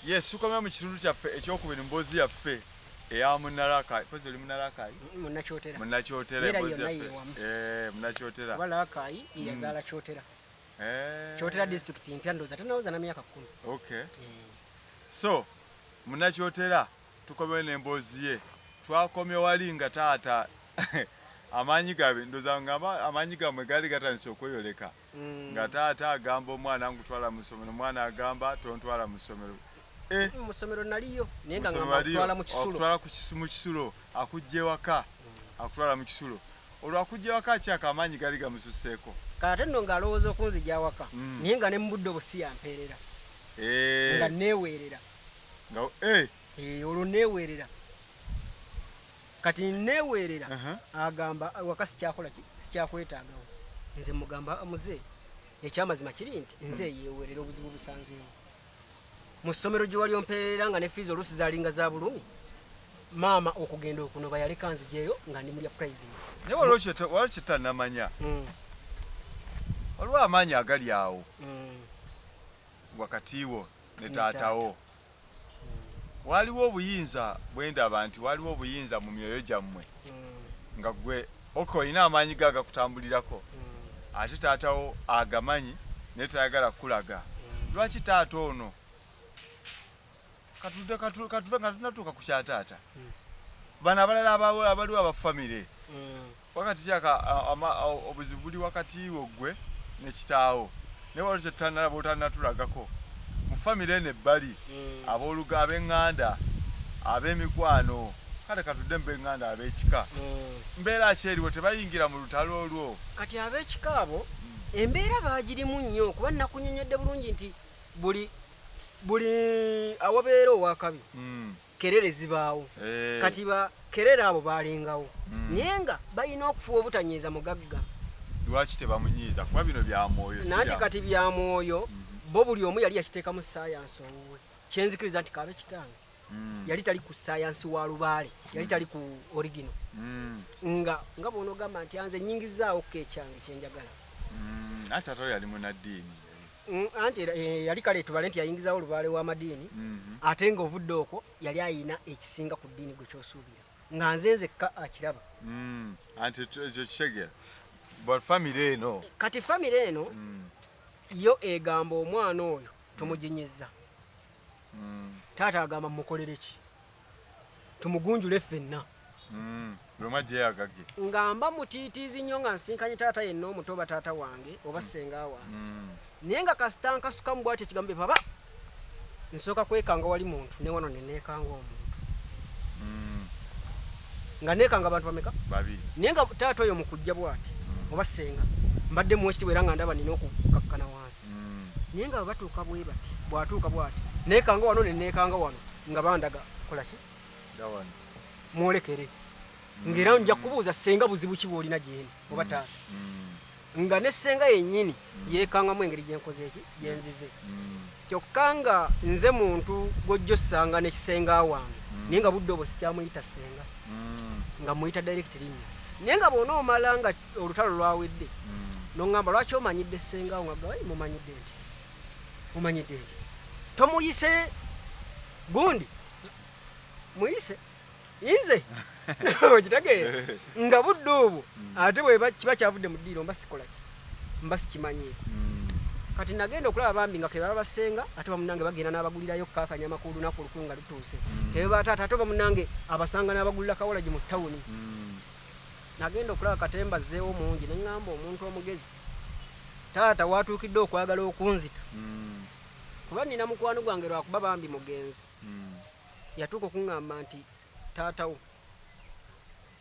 Yes, tukomera mu kitundu kyaffe ekyokubiri mboozi yaffe eya munarakai kozi oli munarakai mm, munakyotera munakyotera emboozi yaffe eh, munakyotera oba larakai mm. yazaala kyotera eh. kyotera district mpya ndoza tanawoza na myaka kumi okay eh. so munakyotera tukomere n'emboozi ye twakomye wali nga taata amaanyi gabe ndoza ngamba amaanyi gamwe gaali gatandise okweyoleka mm. nga taata agamba omwana ngutwala mu ssomero omwana agamba tontwala mu ssomero eh. mm, musomero naliyo naye nga ngakutwala mu kisulo akutwala mu kisulo akujja ewaka mm. akutwala mu kisulo olwakujja ewaka akyaka amaanyi gali gamususeeko kate nno ng'alowooza okunzija awaka mm. naye nga ne mu budde obusi yampeerera eh. nga neeweerera eh. olwo neeweerera kati neweerera agamba waka sikyakola ki sikyakwetaagawo nze mugamba muze ekyamazima kiri nti nze hmm. yeweerera obuzibu busanzeewo mu ssomero gye wali ompeerera nga ne fiizi oluusi zalinga za bulumi maama okugenda okunoba yaleka nzijeeyo nga ndi mulya private naye waliwo kyetanamanya hmm. waliwo amaanyi agali awo hmm. wakati wo ne taatawo waliwo obuyinza bwendaba nti waliwo obuyinza mu myoyo gyammwe hmm. nga gwe oka olina amaanyi ge agakutambulirako hmm. ate taatawo agamanyi naye tayagala kukulaga hmm. lwaki taata ono katuve nga tunatuuka ku kyataata bano abalala abaliwo abafamire wakati kyaka obuzibu buli wakati wo gwe ne kitaawo naye waliwo kyetutanala botanatulagako mu famire eno ebbali hmm. aboluga abenganda abemikwano kale katudde mubenganda abekika hmm. mbeera ki eriwo tebayingira mu lutalo olwo kati abekika abo hmm. embeera bagirimu nnyo kuba nakunyonyodde bulungi nti buli buli awabeera owakabi kerere zibaawo eh. kati ba kerere abo balingawo hmm. naye nga balina okufuba obutanyiiza mugagga lwaki tebamunyiiza kuba bino byamwoyo nanti kati byamwoyo hmm. bo buli omu yali yakiteekamu sayansi owuwe kyenzikiriza nti kaabe kitange hmm. yali tali ku sayansi wa lubaale yali tali ku origino nga nga bwona ogamba nti anze nyingizaawo ko ekyange kyenjagala ate ate yali munaddiini Mm, anti eh, yali kale tubale nti yayingizawo olubaale w'amadiini mm-hmm. ate nga ovudde okwo yali ayina ekisinga ku ddiini gwe kyosuubira nga nze nzekka akiraba mm, anti ekyo kitegera bafamire eno kati famire eno mm. yo egamba omwana oyo tumuginyiza taata agamba mukolereki tumugunjule ffenna mm, nga mba mutiitiizi nnyo nga nsinkanye taata yenna omuto oba taata wange oba ssenga wange mm. naye nga kasita nkasukamu bwatyo ekigambo baba nsooka kwekanga wali muntu ne wano ne neekanga omuntu mm. nga neekanga abantu bameka naye nga taata oyo mukujja bwati oba ssenga mbadde muwekitibwa era nga ndaba nina okukakkana wansi naye nga batuuka bwe bati bwatuuka bwati neekanga wano ne neekanga wano nga bandaga kolaki mwolekere ngaera nja kubuuza senga buzibu ki bwolina gyeni oba mm. taata mm. nga ne senga yenyini mm. yekangamu engeri gyenkoze eki gyenzize kyokka nga nze muntu gwojja osanga nekisenga wange naye nga budde obwo sikyamuyita senga nga muyita direct linya naye nga bwona omala nga olutalo lwawedde noŋamba lwaki omanyidde senga wo nga gawai mumanyidde nti mumanyidde nti tomuyise gundi muyise inze okitegeera nga budde obwo mm. ate bweba kiba kyavudde mu ddiiro mba sikolaki mba sikimanyiiko mm. kati nagenda okulaba bambi nga kebaba basenga ate bamunange bagenda n'abagulirayo kakanya amakulu lunaku olukulu nga lutuuse mm. kebaba taata ate bamunange abasanga n'abagulira kawolagi mu tawuni Nagenda okulaba katemba azzeewo mungi ne ŋŋamba omuntu omugezi, taata w'atuukidde okwagala okunzita kuba nnina mukwano gwange lwakuba bambi mugenzi. Yatuuka okuŋŋamba nti taata wo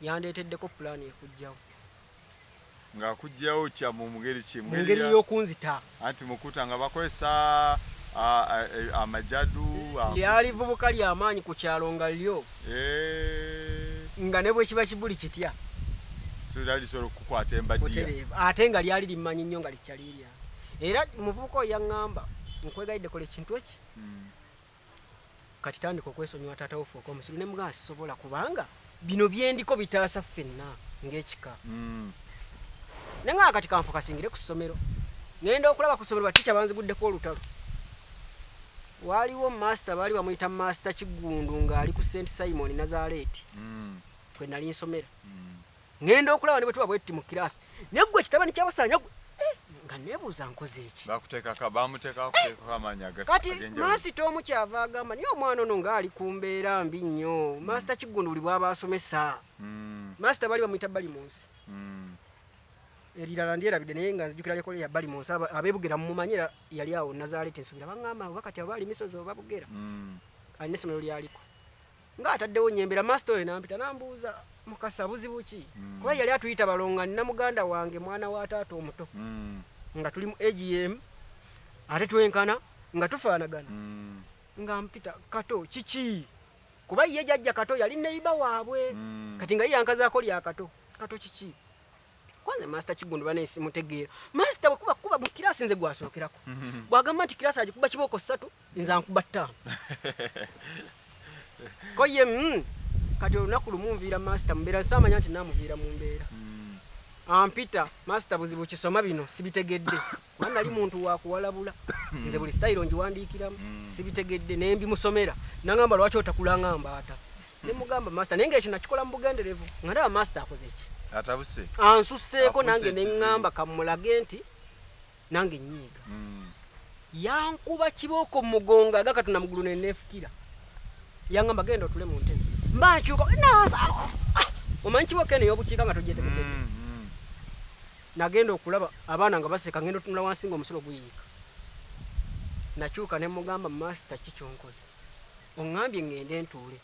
yandeeteddeko pulaani ekuggyawo. Ng'akuggyawo kya mu ngeri ki? Mu ngeri y'okunzita. Anti mukuta nga bakozesa amajadu. Lyali vubuka lya maanyi ku kyalo nga lyo nga ne bwe kiba kibuli kitya lisobola okukwata embajja ate nga lyali limmanyi nnyo nga likyalirya era muvubuka oyo yaŋŋamba nkwegayidde kola ekintu eki hmm. kati tandika okwesonyiwa taata wo fuuka omusiru ne mugamba sisobola kubanga bino byendiko bitaasa ffenna ng'ekika mm. naye nga kati kanfokasingire ku ssomero ngenda okulaba ku ssomero batica banziguddeko olutalo waaliwo master baali bamuyita master kiggundu ng'ali ku st simon nazaleeti mm. kwe nali nsomera mm. Ngenda okulaba ne bwe tuba bwetti mu kiraasi. Naye ggwe kitabani kyabasaanya gwe. Eh, nga nebuuza nkoze eki bakutekaka bamuteka kutekako amaanyi kati masita omu kyava agamba naye omwana ono ngaali ku mbeera mbi nnyo mm. masita kiggundu buli bwaba asomesa mm. masita bali bamuyita bali mu nsi mm. erirala ndyerabidde naye nga nzijukira lyekola ya bali mu nsi abebugera mumumanyira yali awo nazaaleeta ensubira baŋŋamba oba kati aba ali misozi oba bugera alina essomero lyaliko nga ataddewo nyembera master oyo nampita nambuuza mukasa buzibu ki mm. kuba yali atuyita balonga nina muganda wange mwana wa taata omuto mm. nga tuli mu agm ate twenkana nga tufaanagana mm. nga mpita kato kiki kuba ye jajja kato yali neiba waabwe mm. kati nga ye yankazaako lya kato kato kiki kwanze master kigundu bana esimu tegeera master bwekuba kuba mu kirasi nze gwasokerako bwagamba nti kirasi agikuba kibooko ssatu nza nkuba ttaano ko ye mm, kati olunaku lumu nviira masita mumbeera nsamanya nti namuviira mu mbeera hmm. ampita masita buzibu kisoma bino sibitegedde kuba nali muntu wakuwalabula hmm. nze buli sitayiro ngiwandiikiramu hmm. sibitegedde naye mbimusomera nangamba lwaki otakulanga mbaata nemugamba masita naye ngaekyo nakikola mu bugenderevu nga ndaba masita akoze ki ansuseeko nange neŋŋamba kamulage nti nange nyiiga mm. yankuba kibooko mumugongo aga katonda mugulu nenefukira yangamba genda otule mu ntebe mbakyuka nasawo ah, omanyi kibooko eno yobukiika nga tojetemuke mm, mm. nagenda okulaba abaana nga baseka ngenda otunula wansi nga omusulo guyiika nakyuka nemugamba masita kikyonkoze oŋambye ŋŋende ntuule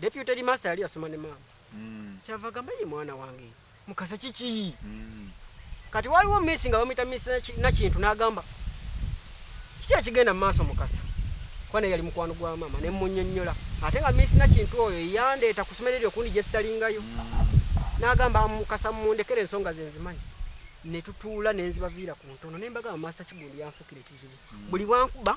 Deputy headmaster yali yasoma ne maama mm. kyava gamba ye mwana wange mukasa kiki mm. kati waliwo misi nga bamuyita misi nakintu n'agamba kiki ekigenda mu maaso mukasa kuba naye yali mukwano gwa maama ne munyonnyola ate nga misi nakintu oyo yandeeta ku somero eryo okundi gye sitalingayo mm. n'agamba mukasa mundekere ensonga ze nzimanyi ne tutuula ne nzibaviira ku ntono ne mbagamba maasita kigundi yanfuukira ekizibu mm. buli bwankuba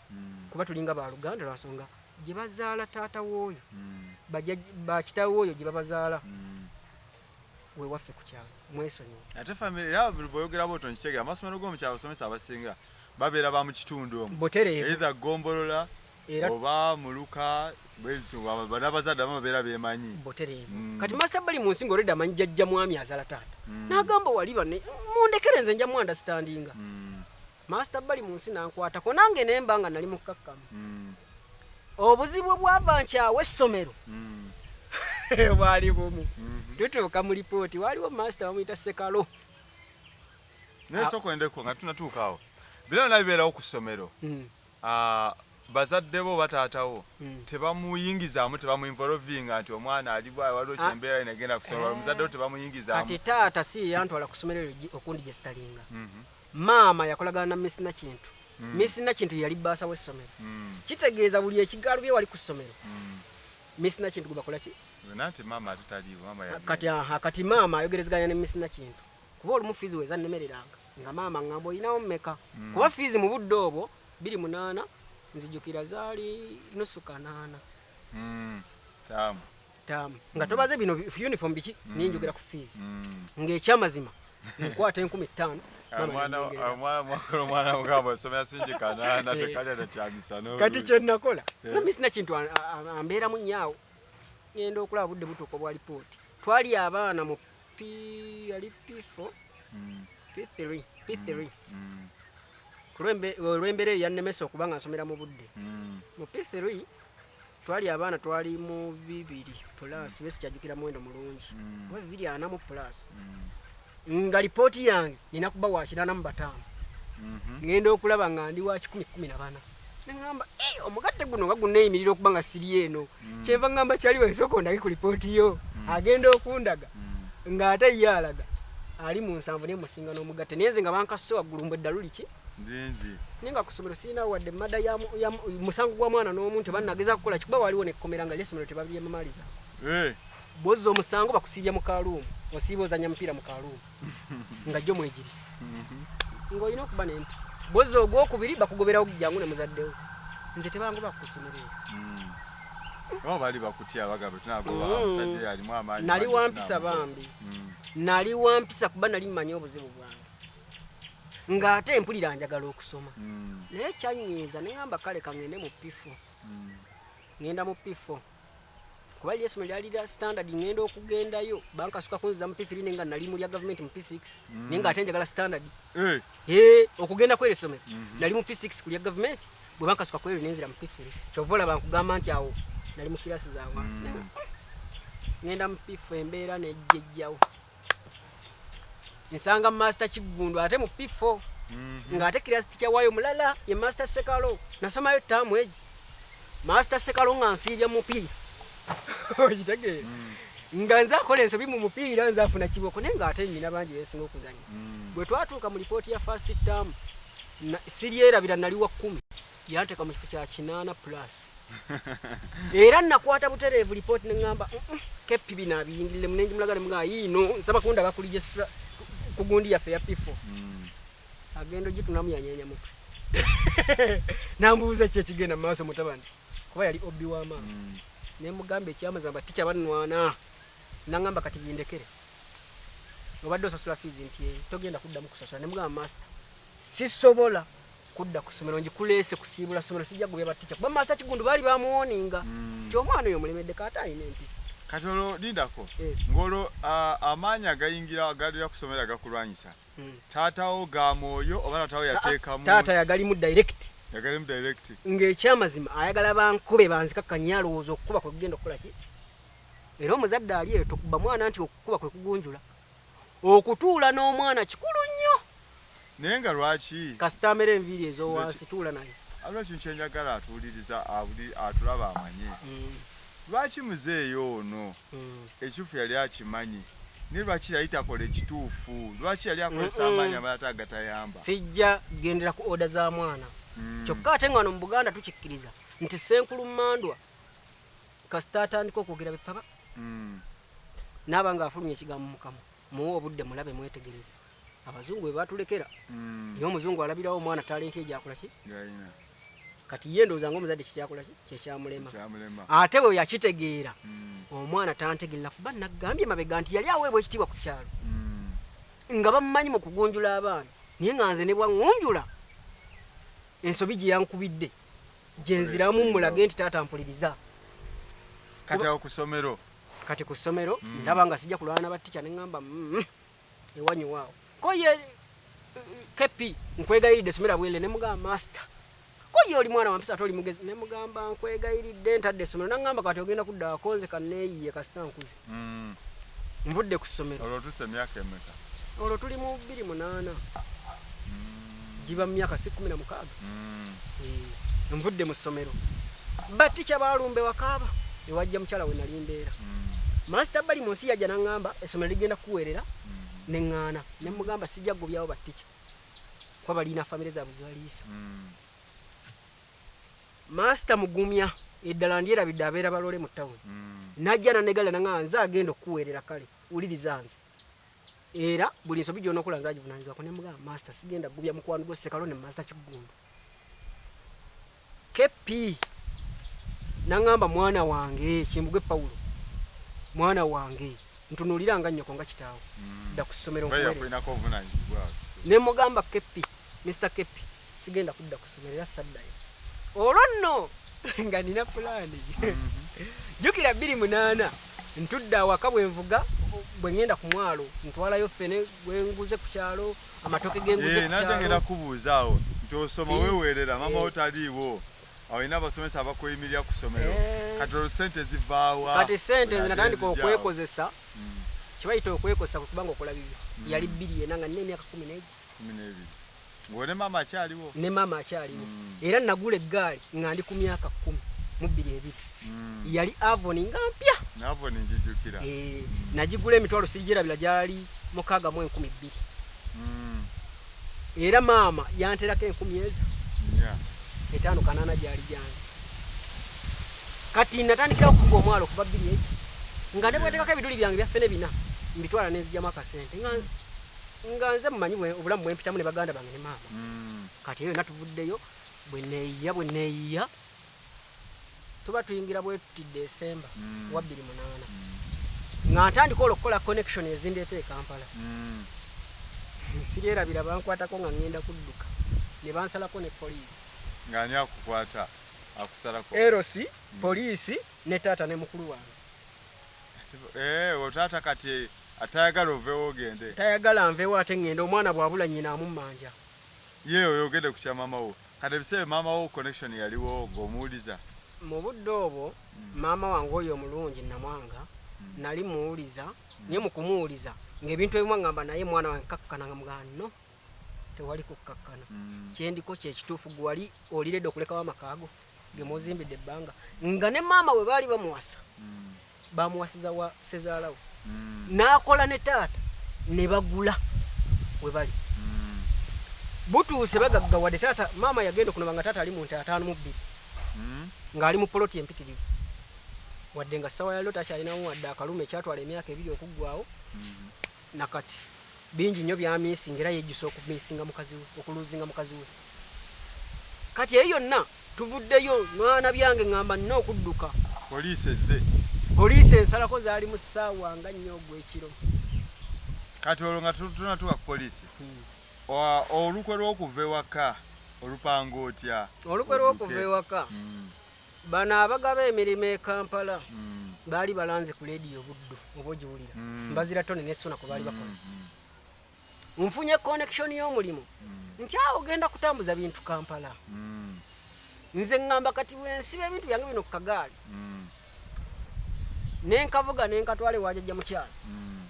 mm. kuba tulinga baluganda lwansonga gye bazaala taata wooyo mm. bakitawe oyo gye babazaala mm. wewaffe ku kyalo mwesonyiwe ate famire era boyogera boto nkitegera amasomero g'omukyalo abasomesa abasinga babeera ba mu kitundu omu butereevu gombolola oba muluka banabazadde abamu babeera bemanyi mm. kati masita bali mu nsi nga oleda amanyi jajja mwami azala taata mm. nagamba wali bane mundekere nze nja mwandastandinga mm. maasita bali mu nsi nankwatako nange nemba nga nali mukkakkamu hmm. obuzibu bwava nkyawa essomero hmm. bwali bumu hmm. tutuuka mu lipooti waliwo maasita bamuyita sekalo naye sokwendeko nga tunatuukaawo bira nabibeerawo ku ssomero bazadde bo oba taata wo hmm. tebamuyingizaamu tebamuinvolovinga nti omwana alibwa waliwo ah. kyembeera ina egenda kusobola eh. omuzadde wo tebamuyingizaamu kati taata si yantwala ku ssomero eryo okundi gye sitalinga mhm. maama yakolagana na miss nakintu hmm. miss nakintu yali bbaasa w'essomero hmm. kitegeeza buli ekigaalo bye wali ku ssomero miss nakintu gwe bakola ki kati aha kati maama ayogerezeganya ne miss nakintu kuba olumu fiizi weza nnemereranga nga maama ngamba olinawo mmeka mm. kuba fiizi mu budde obwo biri munaana nzijukira zaali nusu kanaana mm. taamu taamu nga tobaze bino uniform biki mm. ninjogera ku fiizi ng'ekyamazima nkwata enkumi ttaano kati kyenakola eh. nami sina kintu ambeeramu nyaawo ngenda okulaba budde butuuka obwa lipooti twali abaana mu P yali P4 mm. P3 P3 mm. kulwembere yannemesa okuba nga nsomera mu budde mm. mu P3 twali abaana twali mu bibiri plus mm. besikyajukira muwendo mulungi mm. oba bibiri ana mu plus mm. nga lipooti yange nina kuba wakirana mu bataano mm -hmm. ngenda okulaba nga ndi wa kikumi kumi na bana neŋamba eh, omugatte guno nga guneeyimirira okuba nga siri eno mm. kyeva ŋamba kyali wesooka ondage ku lipooti yo mm. agenda okundaga mm. ng'ate ye alaga ali mu nsanvu naye musinga n'omugatte naye nze nga bankasuse waggulu mbu eddalu liki naye nga ku ssomero sirina wadde mada ya musango gwa mwana n'omu nti banageza kukola kikuba waliwo nekkomera nga lyessomero tebabyemamaliza eh. bwozza omusango bakusiibya mu kaluumu osiiba ozanya mupiira mu kaluumu nga jjo mwegiri mhm. ng'olina okuba n'empisa bozi ogwokubiri bakugoberawo jangu ne muzaddewo nze tebangoba kukusomerera mm. oh, bali bakutya bagamba tunagoba mm. omusajja yalimu amaanyi nali wampisa bambi mm. nali wampisa kuba nali mmanyi obuzibu bwange ng'ate mpulira njagala okusoma naye kyanyiiza ne ŋamba kale kangende mu pifo ngenda mu pifo kuba lye somero lyali lya standard ngenda okugendayo bankasuka kunziza mu pifiri nenga nali mu lya government mu p6 mm. nenga ate njagala standard eh. eh, okugenda kwere somero mhm. nali mu p6 ku lya government bwe bankasuka kwere nenzira mu pifiri kyova olaba nkugamba nti awo nali mu kirasi za wansi mm. ngenda mu pifu embeera nejjejjawo nsanga master kiggundu ate mu p4 mhm. ng'ate kirasi tikyawayo mulala ye master sekalo nasomayo taamu egi master sekalo nga nsiibya mupiira okitegeera mm. nga nze akola ensobi mu mupiira nze afuna kiboko naye ng'ate nyina bangi besinga okuzanya mm. bwe twatuuka mu lipooti ya fast tam siryerabira nali wa kkumi Yanteka mu kifo kya kinaana plus era nakwata butereevu lipooti ne ŋŋamba keppi bino abiyingirire munengi mulaga ne mugaa yiino nsaba kundaba ku lijesitra ku gundi yaffe ya pifo mm. agenda ogitunamu yanyeenya mutwe nambuuza ki ekigenda mu maaso mutabani kuba yali obbi wa maama mm. ne mugamba ekyamazamba tikyabanwana naŋamba kati bindekere obadde osasula fiizi nti eh, togenda kuddamu kusasula ne mugamba master sisobola kudda ku ssomero ngikuleese kusiibula ssomero sijja gubya batica kuba maasa kigundu baali bamuwoninga mm. ti omwana oyo mulemedde kaata alina empisa kati olwo lindako eh. ng'olwo amaanyi agayingira agalira ku ssomero agakulwanyisa hmm. taatawo ga mwoyo oba taatawo yateekamu taata yagalimu direct yagalimu direct ng'ekyamazima ayagala bankube banzikakkanye alowooza okukuba kwe kugenda okukola ki era omuzadde ali eyo tokuba mwana nti okukuba kwe kugunjula Okutuula n'omwana kikulu nnyo. Naye nga lwaki? Kasita amera enviiri ez'owansi tuula naye. Alina ekintu kye njagala atuwuliriza atulaba amanye. Hmm. Lwaki muzeeyi ono hmm. ekituufu yali akimanyi naye lwaki yali takola ekituufu? Lwaki yali akozesa amaanyi amalata agatayamba? Sijja gendera ku oda za mwana. Hmm. Kyokka ate nga wano mu Buganda tukikkiriza nti Ssenkulu Mmandwa kasita atandika okwogera bepaba mm. naaba nga afulumya ekigambo mukama muwe obudde mulabe mwetegereze abazungu bebatulekera mm. naye omuzungu alabirawo omwana talenti egyakolaki kati ye ndowooza nga omuzadde kikyakolaki kyekyamulema ate bwe yakitegeera mm. omwana tantegerera kuba nagambye mabega nti yali aweebwa ekitiibwa ku kyalo mm. nga bamumanyi mu kugunjula abaana naye nga nze ne bwaŋunjula ensobi gye yankubidde gye nziramu mulage nti taata mpuliriza kati awo ku ssomero kati ku ssomero mm. ndaba nga sijja kulwana na batica ne ŋŋamba mm, ewanyu waawo ko ye kepi nkwegayiridde somera bwele ne mugamba masita ko ye oli mwana wampisa ate oli mugezi ne mugamba nkwegayiridde ntadde essomero naŋŋamba kati ogenda kudda wakonze kaneeyiye kasita nkuze mm. nvudde ku ssomero olwo tuli mu bbiri munaana giba mu myaka si kumi na mukaaga mm. nvudde mu ssomero batica balumba ewakaaba ewajja mukyala we nali mbeera mm. masita bali mu nsi yajja naŋŋamba essomero ligenda kukuweerera mm. ne ŋŋaana ne mugamba sijja kugobyawo batica kuba balina famire zaabwe zibaliisa mm. masita mugumya eddala ndyerabidde abeera balole mu tawuni mm. najja nanegala naŋaa nze agenda okukuweerera kale wuliriza nze era buli nsobi gyonokola nze agivunanyizibwako ne mugamba master sigenda gubya mukwano gwo sekalo ne master kiggundu kp nangamba mwana wange kimbugwe pawulo mwana wange ntunulira nga nnyoko nga kitaawo mm. dda ku ssomero ne mugamba kp mr kp sigenda kudda ku ssomero era saddayo olwo nno nga nina pulaani jjukira bbiri munaana ntudde awaka bwe nvuga bwe ŋŋenda ku mwalo ntwalayo ffene gwe nguze ku kyalo amatoke ge nguze ku kyalo ngenda kubuuza awo nti osoma weweerera maama wo taliiwo olina abasomesa abakuyimirira ku ssomero kati olwo ssente zivaawa kati ssente nze natandika okwekozesa kye bayita okwekozesa kwe kubanga okola bibyo yali bbiri yena nga nina emyaka kumi n'ebiri Ng'oyo ne maama akyaliwo? Ne maama akyaliwo. Era nagula eggaali nga ndi ku myaka kkumi mu bbiri ebiri. Yali Avon nga mpya. Ne Avon ngijjukira. Eeh, nagigula emitwalo sigigyerabira gyali mukaaga mu enkumi bbiri. Era maama yanterako enkumi ezo nnya. Etaano kanaana gyali gyange. Kati natandikirawo okuvuga omwalo okuva bbiri eki. Nga ne bweteekako ebiduli byange bya ffene bina, mbitwala ne nzijamu akasente nga. nga nze mumanyi obulamu bwempitamu ne baganda bange ne maama kati eyo yona tuvuddeyo bweneyiya bweneyiya tuba tuyingira bwetuti desemba mm. wa bbiri munaana mm. nga ntandika olwo okukola connection ezindeeta e kampala mm. nsiryerabira bankwatako nga ngenda kudduka ne bansalako ne poliisi ngani akukwata akusalako erosi mm. poliisi ne taata ne mukulu wange Eh, otaata kati atayagala ovewo ogende tayagala nvewo ate ngende omwana bwabula nyina amumanja ye oyogede kukya mama wo kati ebiseera mama wo connection yaliwo ngomuwuliza mu budde obwo mm. maama wange oyo omulungi namwanga mm. nali muwuliza mm. naye mukumuwuliza ngaebintu ebimu angamba naye mwana wange kakkana nga mugano tewali kukkakkana mm. kyendiko kyekituufu gwewali oliredde okulekawo amakaago gemuzimbidde ebbanga nga ne maama we baali bamuwasa mm. bamuwasiza wa sezaalawo mm. n'akola ne taata ne bagula we bali butuuse bagaggawadde taata maama yagenda okunaba nga taata ali mu nte ataano mu bbiri ng'ali mu poloti empitirivu wadde nga ssawa yaliro takyalinamu wadde akaluma ekyatwala emyaka ebiri okuggwawo nakati bingi nyo byamisinga era yejjusa okumisinga mukazi we okuluzinga mukazi we kati eyo yonna tuvuddeyo mwana byange ngamba nina okudduka poliisi ezze poliisi ensalako zaali mu ssaawa nga nnyo ogw'ekiro kati olwo nga tunatuka ku poliisi hmm. olukwe lw'okuva ewaka olupanga otya olukwe lw'okuva ewaka hmm. bano abagaba emirimu e kampala mm. baali balanze ku lediyo obuddu oba ogiwulira mm. mbazira tone nesuna kwe baali bakola mm-hmm. nfunye connection y'omulimu mm. nti awo ogenda kutambuza bintu kampala mm. nze ŋŋamba kati bwensiba ebintu byange bino ku kagaali mm. nenkavuga nenkatwala ewajajja mukyalo mm.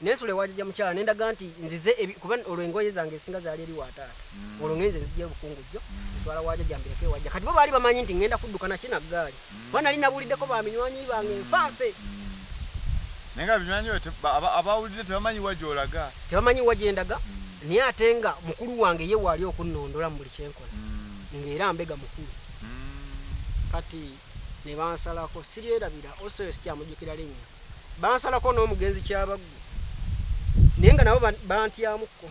Nensula ewa jajja mukyala nendaga nti nzize ebi kuba olwo engoye zange ezisinga zaali eri wa taata. Olwo ngenze nzijja e Bukungujjo nzitwala wa jajja mbireke ewa jajja. Kati bo baali bamanyi nti ngenda kudduka naki na ggaali kuba nali nabuuliddeko ba minywanyi bange nfa nfe. Naye nga binywanyi byo te ba ba abawulidde tebamanyi wa gy'olaga. Tebamanyi wa gye ndaga naye ate nga mukulu wange ye waali okunnondola mu buli kye nkola ng'era mbega mukulu. Kati ne bansalako siryerabira also eyo sikyamujjukira linnya. bansalako n'omugenzi Kyabaggu naye nga nabo bantyamuko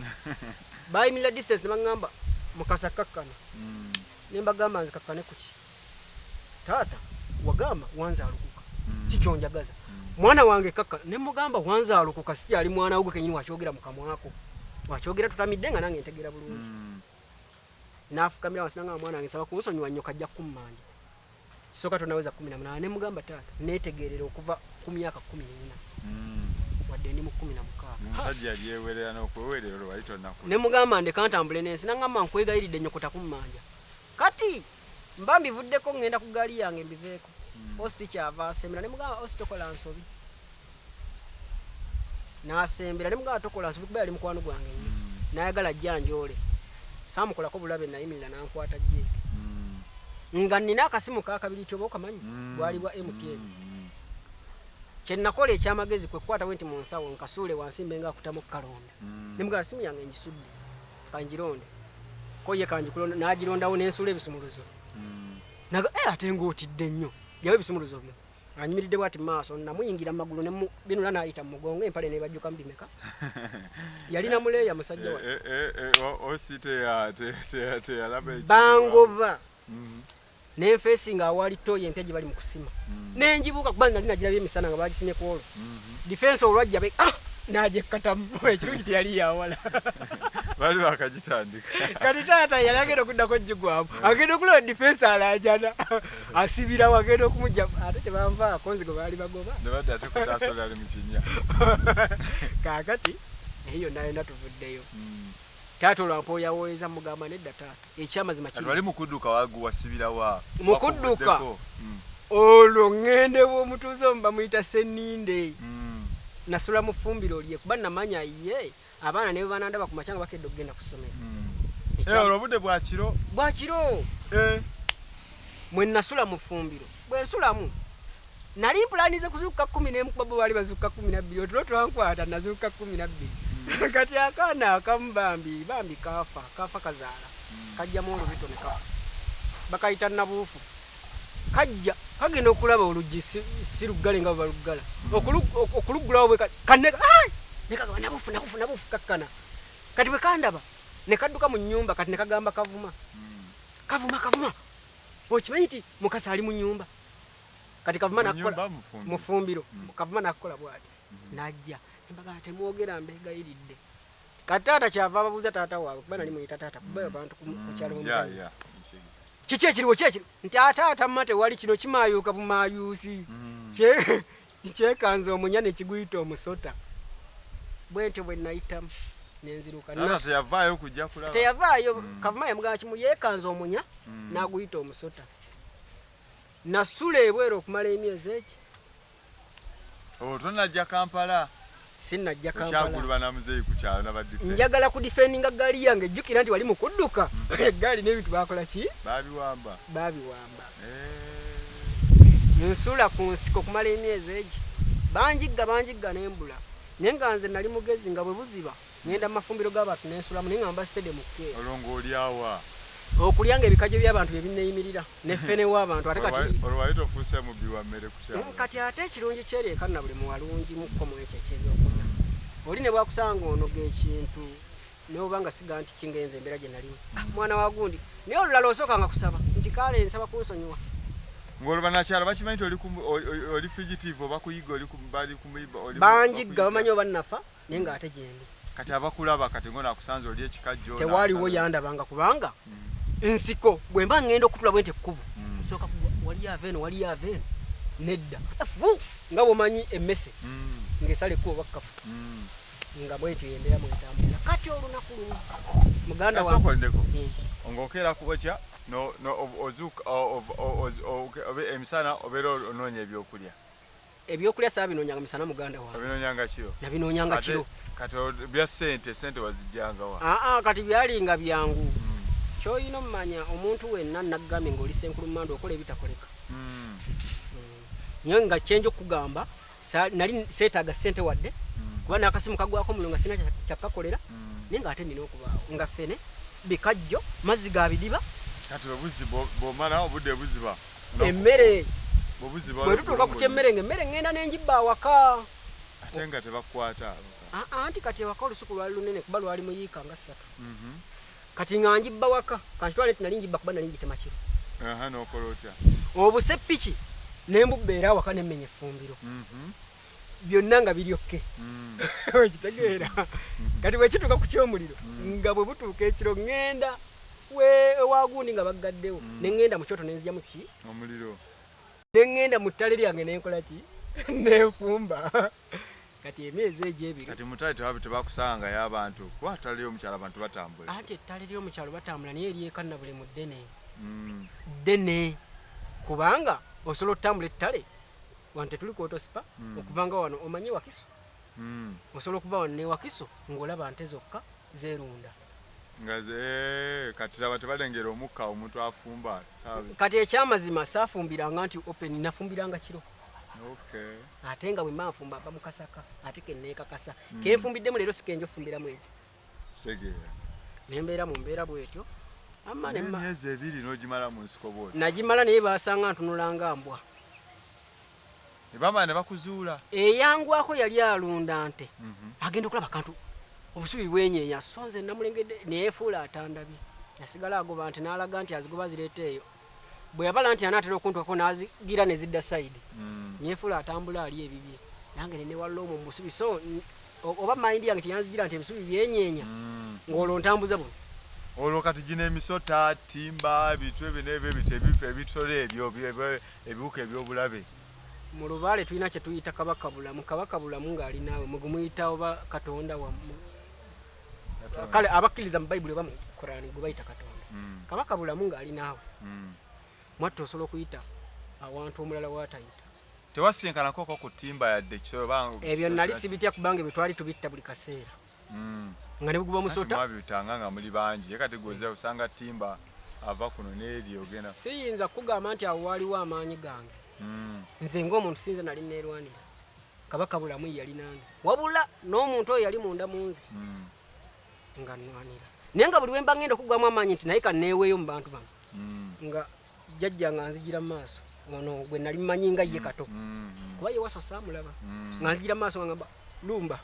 bayimirira distance ne baŋŋamba Mukasa kkakkana mm. ne mbagamba nzikakkane ku ki taata wagamba wanzaalukuka mm. kikyonjagaza mm. mwana wange kkakkana ne mugamba wanzaalukuka sikyali mwana wo gwe kenyini wakyogera mu kamwako wakyogera tutamidde nga nange ntegeera bulungi mm. naafukamira wansi nangamba mwana wange nsaba kunsonyiwa nnyo kajja kukummanja kisoka tonaweza kumi na munana nemugamba taata netegerera okuva ku myaka kumi nina mm. wadde ndi mu kumi na mukaaganemugamba ndeka ntambule nensi nangamba nkwegayiridde nyokota kummanja kati mba mbivuddeko ngenda ku gaali yange mbiveeko mm. osi kyava asemera nemugamba osi tokola nsobi nasembera ne mugamba tokola nsobi kuba yali mukwano gwange nnyo mm. nayagala ajja njoole saamukolako bulabe nayimirira nankwata gye mm. nga nina akasimu kakabiri tyoba okamanyi mm. bwali bwa mtn kyenakola ekyamagezi kwekukwata bwe nti mu nsawo nkasuule wansi mbe nga akutamu okukalonda ne mugamba simu yange ngisudde kangironde ko ye kangikulonda nagirondawo nensuula ebisumuluzo naga eh, ate ngaotidde nnyo jawo ebisumuluzo byo anyumiridde bwati maaso namuyingira mu magulu nebinula nayita mu mugongo empale nebajjuka mu bimeka yalina muleeya musajja wa eh, eh, eh, osi teyalaba bangoba mm-hmm. nenfeesi nga awaali toyi empya gye bali mu kusima mm-hmm. nenjibuuka kuba nali nagirabye emisana nga bagisimye ku olwo mm-hmm. difensi olwajja be ah! najekkatamu ekirungi teyali yawala bali bakagitandika kati taata yali agenda okuddako jigwamu agenda okulaba difensi alajana asibira wagenda okumujja ate tebanvaako nzigo baali bagoba kakati naye yonna yonna tuvuddeyo hmm. taata olwampa oyawoyeza mugamba nedda taata ekyamazima kibali mukudduka waguwasibirawa mukudduka hmm. olwo ŋŋende bwomutuuze omu bamuyita seninde hmm. nasula mufumbiro lye kuba namanya ye yeah. abaana ne bwe banandaba ku makya nga bakedde okugenda ku ssomero hmm. eh, olwo obudde bwa kiro bwa kiro eh. mwe nasula mu ffumbiro bwe nsulamu nali mpulanize kuzuukuka kumi n'emu kuba bo baali bazuukuka kumi na bbiri otulo twankwata nazuukuka kumi na bbiri hmm. kati akaana akamu bambi bambi kaafa kaafa kazaala hmm. kajjamu olubito ne kafa bakayita nabuufu Kajja, kagenda okulaba oluggi si, si luggale nga bwe baluggala. Okulu, okuluggulawo bwe kati, kanne, ai! Ne kagamba, nabufu, nabufu, nabufu, kakkana. Kati bwe kandaba, ne kadduka mu nnyumba, kati ne kagamba kavuma. Kavuma, kavuma! Okimanyi nti Mukasa ali mu nnyumba? Kati kavuma nakukola, mufumbiro, mm. kavuma nakukola bwati. Mm. Najja, embaga temwogera mbegayiridde. Kati taata kyava ababuuza taata waabwe kuba nali muyita taata kuba abantu ku kyalo bwemuzanyi. Kiki ekiriwo kyekiri nti ataata mma tewali kino kimaayuuka bumaayuusi mm. kyekanza omunya ne kiguyita omusota bwentyo bwe nayitamu nenzirukanateyavaayo kujja kulaba teyavaayo mm. kavuma yamugamba kimu yekanza omunya mm. n'aguyita omusota nasula ebweru okumala emyezi eki Oh, tonajja kampala sinajja kampalakyaguluba na muzeeyi ku kyalo nabadife njagala ku difendinga gaali yange jjukira nti wali mu kudduka egaali hmm. n'ebintu bakola ki babiwamba babiwamba eh. nsula ku nsiko okumala emyezi egi banjigga banjigga nembula naye nga nze nali mugezi nga bwe buziba Ngenda mu mafumbiro g'abantu ne nsulamu naye nga mba sitede mu kkeera. Olwo ng'olya wa? Okulya ng'ebikajjo by'abantu bye binneeyimirira ne ffene w'abantu ate kati. Olwo wali tofuuse mubbi wa mmere ku kyalo? Kati ate ekirungi ky'eri e Kannabulemu walungimukko mu ekyo eky'ebyokulya. Oli ne bw'akusanga ng'onoga ekintu n'oba nga si gantiki ng'enze embeera gye nalimu, mwana wa gundi, naye olulala osookanga kusaba nti kaale nsaba kunsonyiwa. Ng'olwo bannakyalo bakimanyi nti oli fugitive oba kuyigga, bali ku. Banjigga bamanyi oba nnafa. naye nga ate gyendi kati abakulaba kati ngona akusanze oli ekikajjo tewaliwo yandabanga kubanga mm. nsiko bwe mba ngenda okutula bwente ekkubo mm. sooka waliyo ava eno waliyo ava eno nedda nga bwomanyi emmese mm. ng'esala ekkubo bakkafu mm. nga bwentyo yembeera mwetambulira kati olunaku lumu muganda wasokoledeko mm. ng'okeera kubokya ozuuka emisana obeera onoonya ebyokulya Ebyokulya saabinoonyanga misana muganda wange. Nabinoonyanga kiro. Nabinoonyanga kiro. Kati bya ssente, ssente wazijjanga wa? Aa ah, ah, kati byalinga byangu. Hmm. Ky'olina omanya omuntu wenna naggambe ng'oli senkulummandwa okola ebitakoleka. Hmm. Nyo nga kyenja okugamba nali seetaaga ssente wadde hmm. kuba n'akasimu kagwako mulo nga sina kyakkakolera naye ng'ate nina okubaawo nga ffene bikajjo mazzi ga bidiba kati obuzi bwomala obudde buziba emmere bwe tutuuka ku kyemmere nga emmere ŋŋenda ne ngibba awaka ate nga tebakwata anti kati ewaka olusuku lwali lunene kuba lwali mu yiika nga ssatu mhm. kati nga ngibba waka kankitwale nti nali ngibba kuba nali ngitema kiro n'okola otya obuseppiki ne mbubbeera awaka nemmenya effumbiro mhm. byonna nga biri okke okitegeera kati bwekituuka ku kyomuliro nga bwe butuuka ekiro ŋŋenda ewagundi nga baggaddewo ne ŋŋenda mu kyoto nenzijamu ki omuliro ne ŋŋenda mu ttale lyange nenkola ki nenfumba kati emyezi egyo ebiri kati mutale tebabi tebakusanga ya abantu kuba ttale ly'omukyalo abantu batambula anti ettale ly'omukyalo batambula naye eryekanna buli mu ddene mm. ddene kubanga osobola otutambula ettale wano tetuli kwotosipa mm. okuva nga wano omanye wakiso mm. osobola okuva wano newakiso ngaolaba nte zokka zerunda eh, kati laba tebalengera omukka omuntu afumba kati ekyamazima safumbiranga nti open nafumbiranga kiro okay. ate nga bwemba nfumba mba mukasaka ate kenekakasa mm. kenfumbiddemu leero sikenja ofumbiramu ekyo nembeera mu mbeera bwetyo myezi ebiri nogimala mu nsiko bwoti nagimala naye basanga ntunulanga mbwa nebamala nebakuzuula eyangwako yali alunda nte mhm. agenda okulaba kantu obusubi bwenyenya so nze namulengedde neyefuula atandabye nasigala agoba nti nalaga nti azigoba zireeta eyo bwe yabala nti anaatera okuntuukako n'azigira ne zidda sayidi mm. nyefuula atambula ali ebibye nange ne newalula omwo mubusubi so oba mayindi yange teyanzigira nti ebisubi byenyeenya mm. ng'olwo ntambuza buno olwo kati gino emisota timba bitu ebyo n'ebyo ebito ebifa ebitole ebyo ebiwuka ebyobulabe mu lubaale tulina kye tuyita kabaka bulamu kabaka bulamu ng'ali naawe mwe gumuyita oba katonda wamu kale abakkiriza mu bayibuli oba mu kurani gwe bayita katonda hmm. kabaka bulamu ng'ali naawe hmm. mwatta osobola okuyita awantu omulala watayita tewasinkanako ko ku timba yadde ebyo nali sibitya kubanga ebyo twali tubitta buli kaseera hmm. nga nebuguba omusotawabitanga nga muli bangi ye kati gwoza osanga timba ava kuno neeri ogenda siyinza kukugamba nti awo waaliwo amaanyi gange nze ngaomuntu sinza nali neerwanira kabaka bulamu yali nange wabula n'omuntu oyo yali munda mu nze hmm. nga nwanira naye nga buli wemba ngenda okugwamu amaanyi nti naye kaneeweeyo mu bantu bano hmm. nga jajja nga nzigira mu maaso ono gwe nali mmanyi nga ye hmm. kato kuba ye waso saamulaba nga nzigira mu maaso nga ngamba lumba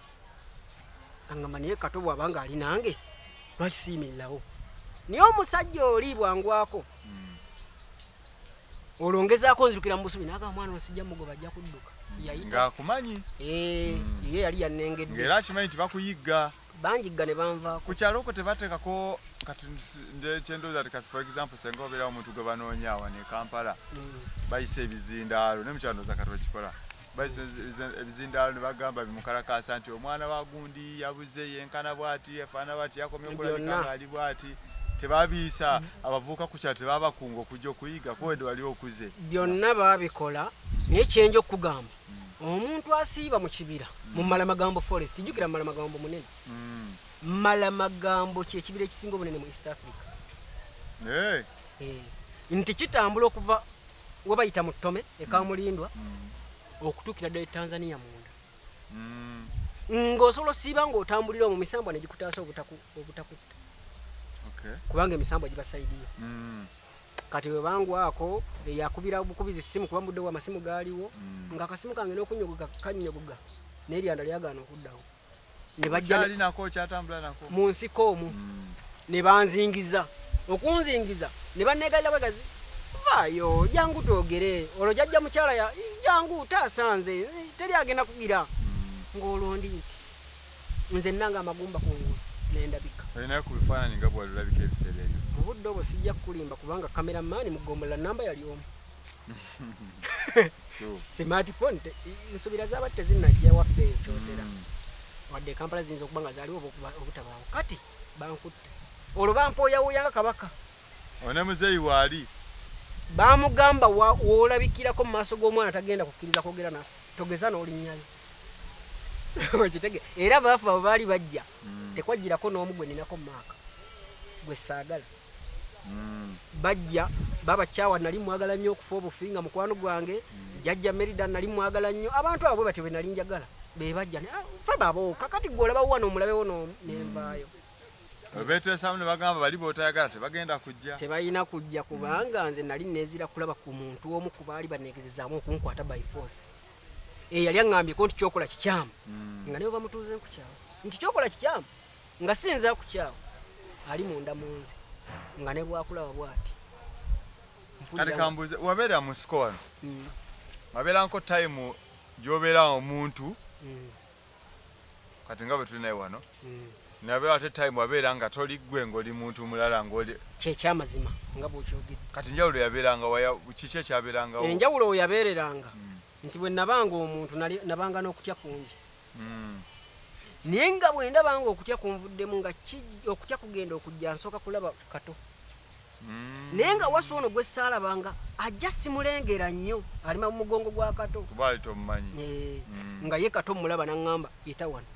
angamba naye kato bwaba nga ali nange lwaki siyimirirawo naye omusajja oli bwangwako olwo ngezaako nzirukira mu busubi naga mwana osijja mugoba ajja kudduka yayitaakumanyi eh, hmm. ye yali yanengedde era akimanyi nti bakuyigga banjigga ne banva ku kyalo oko tebateekako kati kyendooza ti kati for example senga obeerawo omuntu gwe banoonya awa ne kampala hmm. bayisa ebizindaalo ne mukyalo ndooza kati bakikola ebizindaalo ne bagamba bimukalakaasa nti omwana wa gundi yabuze yenkana bwati afaana bwati yakomye okulabika ngaali bwati tebabiyisa abavuuka ku kyalo tebabakunga okujja okuyiga kuwede wali okuze byonna babikola naye kyenja okukugamba hmm. omuntu asiiba mu kibira mu hmm. malamagambo forest jjukira malamagambo munene hmm. malamagambo kyekibira ekisinga obunene mu east africa eh. Eh. nti kitambula okuva webayita mu ttome ekamulindwa mm. okutuukira ddala e tanzania munda mm. ng'osobola osiiba ng'otambulira omu misambwa ne gikutaasa obutakutta kubanga emisambwa gibasaidiyo mm. kati webangwako eyakubira bukubizi simu kuba mudde wa masimu gaaliwo nga akasimu kange n'okunyogoga kanyogoga n'eryanda lyagaana okuddawo ne bajja mu nsiko omwo hmm. ne banzingiza okunzingiza ne banneegalira bwegazi vaayo jangu twogere olwo jajja mukyala ya jangu taasa nze teri agenda kugira hmm. ng'olwo ndi nti nze nanga amagumba kungulu nendabika olinayo ku bifaananyi nga bwalulabika ebiseera ebyo mu budde obwo sijja kukulimba kubanga kameramaani mugombola namba yali omu smartphone nsubira zaba tezinajja waffe ekyotera mm. wadde kampala ziyinza okuba nga zaliwo obutabaawo kati bankutte olwo bampoyawuyanga kabaka one muzeeyi waali bamugamba wolabikirako mu maaso g'omwana tagenda kukkiriza kwogera naffe togeza n'olinnyayo okitege era baafu abo baali bajja mm. tekwajjirako n'omu gwe ninako maaka gwe saagala mm. bajja baba kyawa nali mwagala nnyo okufa obufi nga mukwano gwange mm. jajja merida nali mwagala nnyo abantu abo batyo benali njagala bebajja ah, fe babooka kati gwe olaba wano omulabewo nenvaayo mm. betesamu ne bagamba bali botayagala tebagenda kujja tebalina kujja kubanga nze nali nezira kulaba ku muntu omu ku baali banegezezamu okunkwata by force eyali eh, aŋambye ko nti kyokola kikyamu mm. nga naye bamutuuze nkukyamu nti kyokola kikyamu nga siyinza kukyawa ali munda munze nga ne bwakulaba bwati kati kambuze wabeera mu siko wano mm. wabeeranko time gyobeera omuntu mm. kati nga bwe tuli naye wano mm. nabeera ate time wabeera nga toli gwe ngaoli muntu mulala ngaoli kyekyamazima nga bwokyogedde kati njawulo yabeeranga kiki ekyabeeranga enjawulo weyabeereranga nti bwe nabanga omuntu nabanga n'okutya kungi mm. naye nga bwendaba nga okutya kunvuddemu nga okutya kugenda okujja nsooka kulaba kato mm. naye nga wasi ono gwesaalaba nga ajja simulengera nnyo alima mu mugongo gwa kato eh, mm. nga ye kato mulaba naŋŋamba yita wano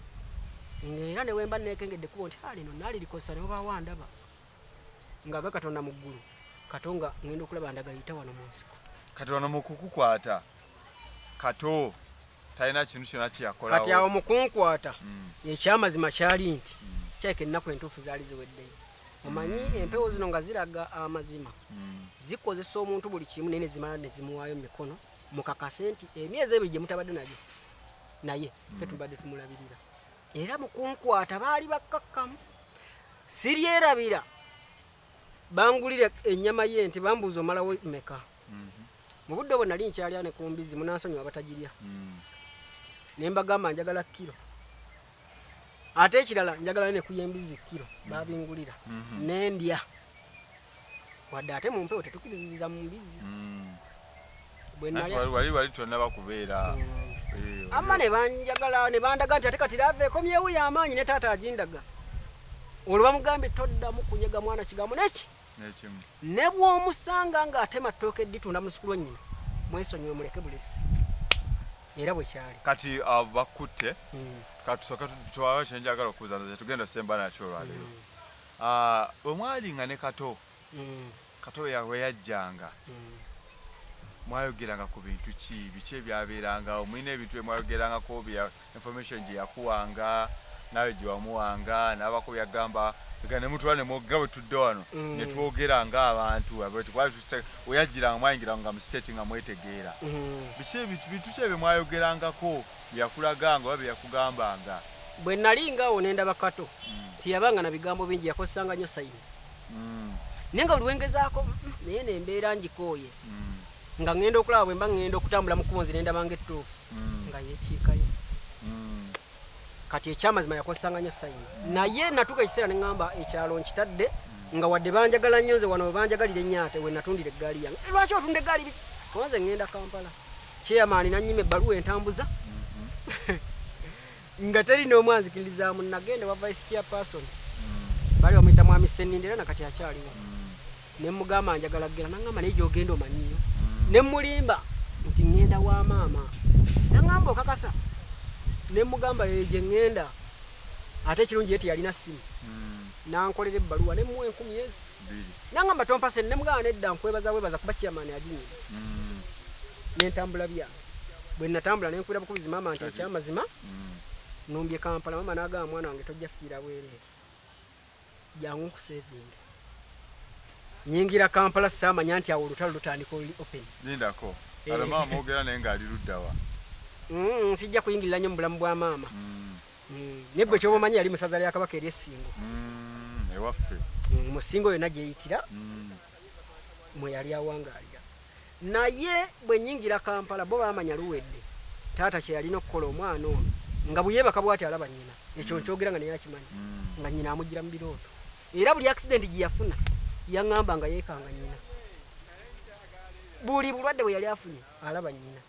ngaera newemba nekengedde kubo nti ah, lino naali likosa newobawa ndaba nga ga katonda mu ggulu kato nga ŋŋenda okulaba ndagayita wano mu nsiko kati wano mukukukwata kato talina kintu kyona kyeyakolawo kati awo mukunkwata mm. ekyamazima kyali nti mm. kyeka ennaku entuufu zaali ziweddeyo omanyi mm. empewo zino nga ziraga amazima mm. zikozesa omuntu buli kimu naye nezimala nezimuwaayo mu mikono mukakase nti emyezi ebiri gye mutabadde nayo naye fe mm. tubadde tumulabirira era mukunkwata baali bakkakkamu siryerabira bangulira ennyama ye nti bambuuza omalawo meka mu budde obwo nali nkyalya ne ku mbizzi munansonyiwa abatagirya ne mbagamba njagala kiro ate ekirala njagala ne kuya embizzi kiro babingulira nendya wadde ate mu mpewo tetukiriziza mu mbizzi wali wali tonaba kubeera ama nebanjagala nebandaga nti ate kati lava ekomyewo yamaanyi ne taata agindaga olwo bamugambye toddamu kunyega mwana kigambo neki ne bw'omusanga ng'atema ttooke dditunda musuku lwa nnyina mwesonyiwe muleke bulesi era bwe kyali kati uh, bakutte hmm. katusoke tuwawe kyenjagala okubuza nze tugenda semba nakyo olwaleero hmm. uh, bwe mwali nga ne kato hmm. kato we yajjanga mwayogeranga ku bintu ki biki ebyabeerangawo mulina ebintu bye mwayogerangako information gye yakuwanga naawe gye wamuwanga n'abaako bye yagamba nga ne mutula ne mwogga bwe tudde wano Mm. ne twogera ng'abantu abo bati bwali tusa- we yajjiranga mwayingiranga nga mu state nga mwetegeera Mm. biki ebintu bintu ki ebyo mwayogerangako bye yakulaganga oba bye yakugambanga bwe nali ngaawo ne ndaba kato nti yabanga na bigambo bingi yakozesanga nnyo sayini Mm, naye nga buli wengezaako mm, naye nembeera ngikooye mm, nga ŋŋenda okulaba bwe mba ŋŋenda okutambula mu kkubo nzire ndaba ng'ettuufu mm. nga yekiikayo mm. kati ekyamazima yakozesanga nnyo sayini mm. naye natuuka ekiseera ne ŋŋamba ekyalo nkitadde nga wadde banjagala nnyo nze wano webanjagalira ennyate we natundira eggaali yange eh, lwaki otunda eggaali biki kuba nze ŋŋenda kampala kyeyamaani nannyima ebbaluwa entambuza mm-hmm. nga teri n'omu anzikirizaamu nagenda wa vice chairperson bali bamuyita mwami sseninde era nakati akyaliwo ne mugamba njagala kugenda nangamba naye gyogenda omanyiyo ne mulimba nti ŋŋenda wa maama nangamba okakasa ne mugamba eyo gye ŋŋenda ate ekirungi ye teyalina ssimu nankolera ebbaluwa ne muwa enkumi ezi nangamba tompase ne mugamba nedda nkwebaza bwebaza kuba chairman aginyima nentambula byange bwe natambula ne nkwira bukubizi maama nti ekyamazima mm. numbye kampala maama n'agamba mwana wange tojja fiira bwereere jangu nkusevinge nyingira kampala saamanya nti awo olutalo lutandika oli open lindako eh. ala maama ogera naye ng'ali luddawa mm, nsijja kuyingirira nnyo mu bulamu bwa maama mm. mm. naye gwe kyoba omanyi yali musaza lya kabaka eri essingo ewaffe mu ssingo yonna gyeyitira mwe yali awangaalira Naye bwe nnyingira Kampala bo baamanya luwedde taata kye yalina okukola omwana ono nga bwe yeebaka bw'ati alaba nnyina. Ekyo nkyogera nga naye akimanyi nga nnyina amujjira mu birooto. Era buli akisidenti gye yafuna yaŋŋamba nga yeekanga nnyina. Buli bulwadde bwe yali afunye alaba nnyina.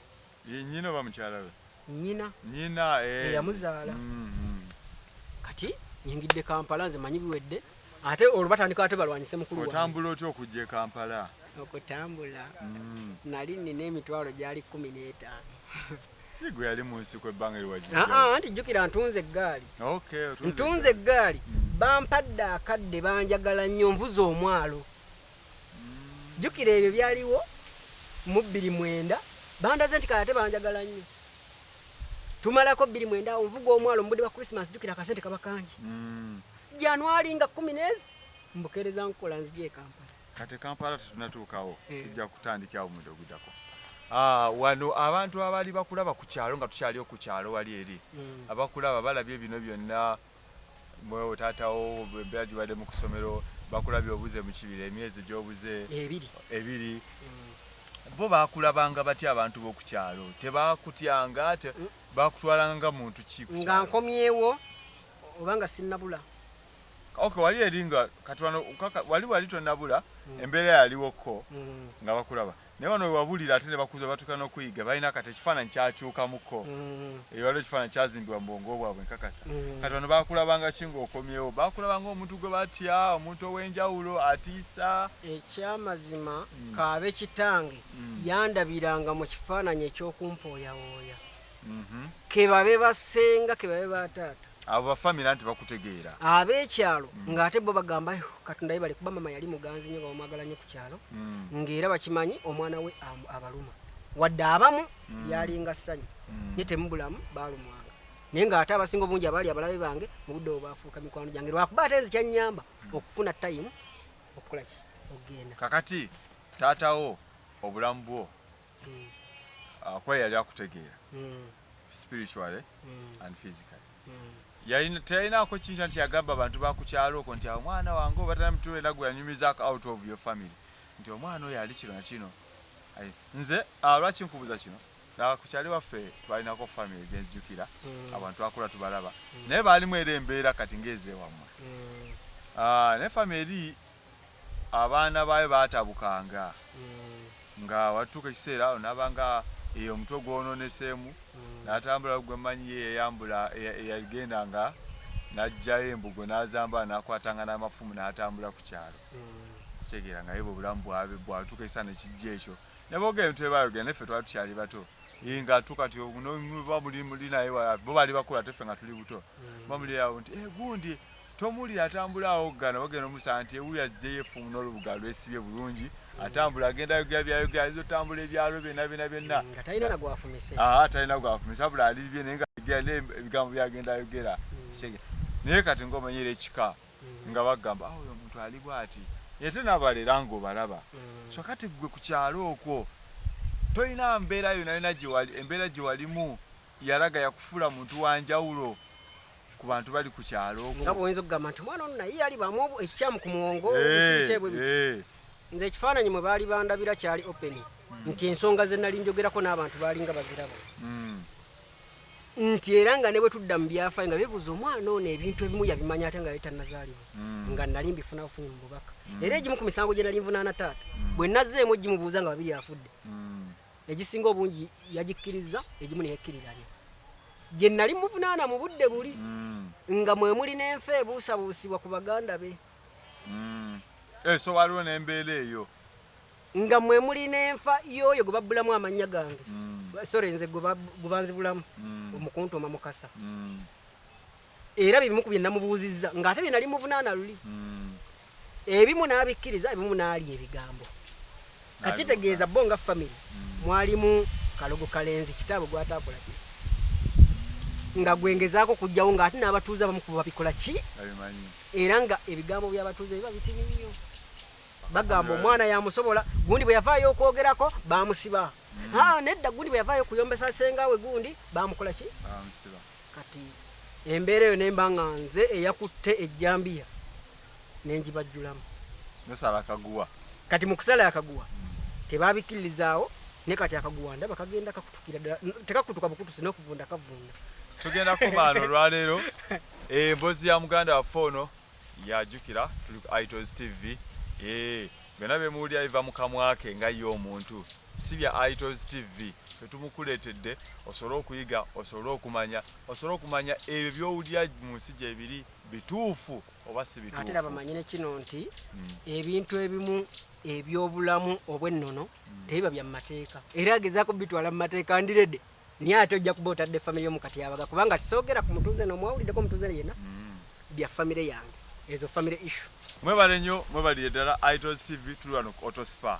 Ye nnyina oba mukyala we? Nnyina. Nnyina eh. Eyamuzaala. Mm, mm. Kati nyingidde Kampala nze manyi biwedde ate olwo batandika ate balwanyise mukulu wange. Otambula otya okujja e Kampala? Okutambula mm. nali nina emitwalo gyali kkumi n'etaano. Kigwe yali mu nsiko ebbanga liwagi. Ah, ah, anti jjukira ntunze eggaali. Okay, ntunze eggaali. Mm. Bampadde akadde banjagala nnyo nvuze omwalo. jjukira ebyo byaliwo mu bbiri mwenda bandaze nti kale ate banjagala nnyo tumalako bbiri mwenda awo nvuga omwalo mu budde bwa christmas jjukira akasente kaba kangi mm. januari nga kumi neezi mbukeereza nkukola nzija e kampala kati kampala tetunatuukawo eh. tujja kutandika awo mudde ogudako ah, wano abantu abaali bakulaba ku kyalo nga tukyaliyo ku kyalo wali eri mm. abakulaba balabye bino byonna mwewo taata wo embeera gibadde mu kusomero bakulabye obuze mu kibira emyezi gyobuze ebiri ebiri mm. bo bakulabanga batya abantu b'oku kyalo tebakutyanga te mm. bakutwalanga nga muntu ki nga nkomyewo oba nga sinnabula ok wali eri nga katwano wali wali tonabula mm. embeera yaliwoko nga bakulaba naye wano wewabulira ate nebakuza batuka nokuyiga balina kati ekifaananyi kyakyukamuko mm. ewaliwo ekifaananyi kyazimbibwa mubwongo bwabwe nkakasa mm. kati wano bakulabanga ki ngaokomyewo bakulabanga omuntu gwe batya omuntu ow'enjawulo atiisa ekyamazima mm. kaabe kitange yandabiranga mu kifaananyi ekyokumpooyawooya mhm. kebabe basenga kebabe bataata abo bafamire anti bakutegeera ab'ekyalo mm. ng'ate bo bagamba katonda yebale kuba mama yali muganzi nyo bawamwagala nyo ku kyalo mm. ng'era bakimanyi omwana we abaluma wadde abamu mm. yalinga ssanyu nye temubulamu balumwanga naye ng'ate abasinga obungi abaali abalabe bange mu budde obwafuuka mikwano gyange lwakuba ate nzi kyanyamba okufuna tayimu okukolaki okugenda kakati taatawo obulamu bwo mm. ah, kuba yali akutegeera mm. spiritually mm. and physically teyalinako kintu nti yagamba abantu bakukyalo oko nti omwana wange obatana mutu era gwe yanyumizako out of your family nti omwana oyo ali kino nakino nze ah, lwaki nkubuza kino nakukyali waffe twalinako family genzijukira abantu twakula tubalaba naye baalimu era embeera kati ngaezewammwe naye family eri abaana baayo baatabukanga nga watuuka ekiseera awo n'aba nga eyo omutwe gwononeseemu n'atambula gwe mmanyi ye yayambula eyagenda nga n'aggyayo embugo n'azambala n'akwatanga n'amafumu n'atambula ku kyalo kitegeera nga ye bwe bulamu bwabe bwatuuka ekiseera ne kijja ekyo ne boogera ebintu bye baayogera naye ffe twali tukyali bato nga tuka ti oba muli muli naye bo bali bakula ate ffe nga tuli buto ba muli awo nti gundi tomuwulira atambula awoggana wagenda omusanga nti ewuyo ajjeyo efumu n'olubuga lwesibye bulungi atambula agenda ayogera byayogera ayinza otambula ebyalo byonna byonna byonna mm, nga talina nagwafumise aa ah, talina gwafumise abula ali bibye naye ngaegera naye ebigambo byagenda ayogera mm. naye kati ngaomanyira ekika mm. nga bagamba ah, oyo omuntu ali bwati ete nabalera nga obalaba so kati gwe ku kyalo okwo tolina mbeera yona yona gyewali embeera gyewalimu yalaga yakufuula muntu wa njawulo ku bantu bali ku kyalo okwo nga bwoyinza okugamba nti omwana ono naye yali bamu ekikyamu ku muwongo Eh, ekikyebwe eh. nze ekifaananyi mwe baali bandabira kyali open nti ensonga ze nali njogerako n'abantu baalinga baziraba Mm. nti era nga ne bwe tudda mu byafaayo nga bebuuza omwana ono ebintu ebimu yabimanya ate nga yali tannazaalibwa Mm. nga nali mbifuna bufunyi mu bubaka era egimu ku misango gye nali nvunaana taata bwe nazzeemu gimubuuza nga babiri afudde Mm. egisinga obungi yagikkirizza egimu neyekkiriranya gye nali muvunaana mu budde buli mm. nga mwe muli n'enfa ebuusabuusibwa ku baganda be mm. eh, so waliwo n'embeera eyo nga mwe muli n'enfa y'oyo gwe babbulamu amannya gange mm. sore nze gwe banzibulamu omukuntuma mukasa era bye bimu ku bye namubuuzizza ng'ate bye nali muvunaana luli hmm. ebimu n'abikkiriza ebimu n'alya ebigambo kati kitegeeza bo nga famire hmm. mwalimu kalogo kalenzi kitaabo gwataakola ki nga gwengezaako okugjawo ng'ate n'abatuuze abamu kuba babikola ki era nga ebigambo by'abatuuze biba bitini nnyo bagamba omwana yamusobola gundi bwe yavaayo okwogerako bamusiba hmm. nedda gundi bwe yavaayo okuyombesa senga we gundi bamukola ki Kati embeera eyo nemba nga nze eyakutte ejjambiya ne ngibajjulamu. Nosala akaguwa. Kati mu kusala akaguwa tebabikkiririzaawo ne kati akaguwa ndaba kagenda kakutukira ddala tekakutuka bukutusi n'okuvunda kavunda. Tugenda kumaana olwaleero embozi eh, ya muganda waffe ono yajukira tuli ku itos tv ee eh, byonna bemuwulira biva mu kamwa ke nga ye omuntu si bya itos tv fetumukuleetedde osobole okuyiga osobole okumanya osobole okumanya ebyo byowulira mu nsi gyebiri bituufu oba si bituufu ate nabamanye nekino nti hmm. ebintu ebimu ebyobulamu obwennono hmm. tebiba bya mu mateeka era agezaako bitwala mu mateeka ndirede naye ate ojja kuba otadde famire yo mu katyabaga kubanga tisoogera ku mutuuze no mwawuliddeko omutuuze yenna mm. bya famire yange ezo famire issue mwebale nnyo mwebalire ddala itos tv tuli wano ku autospa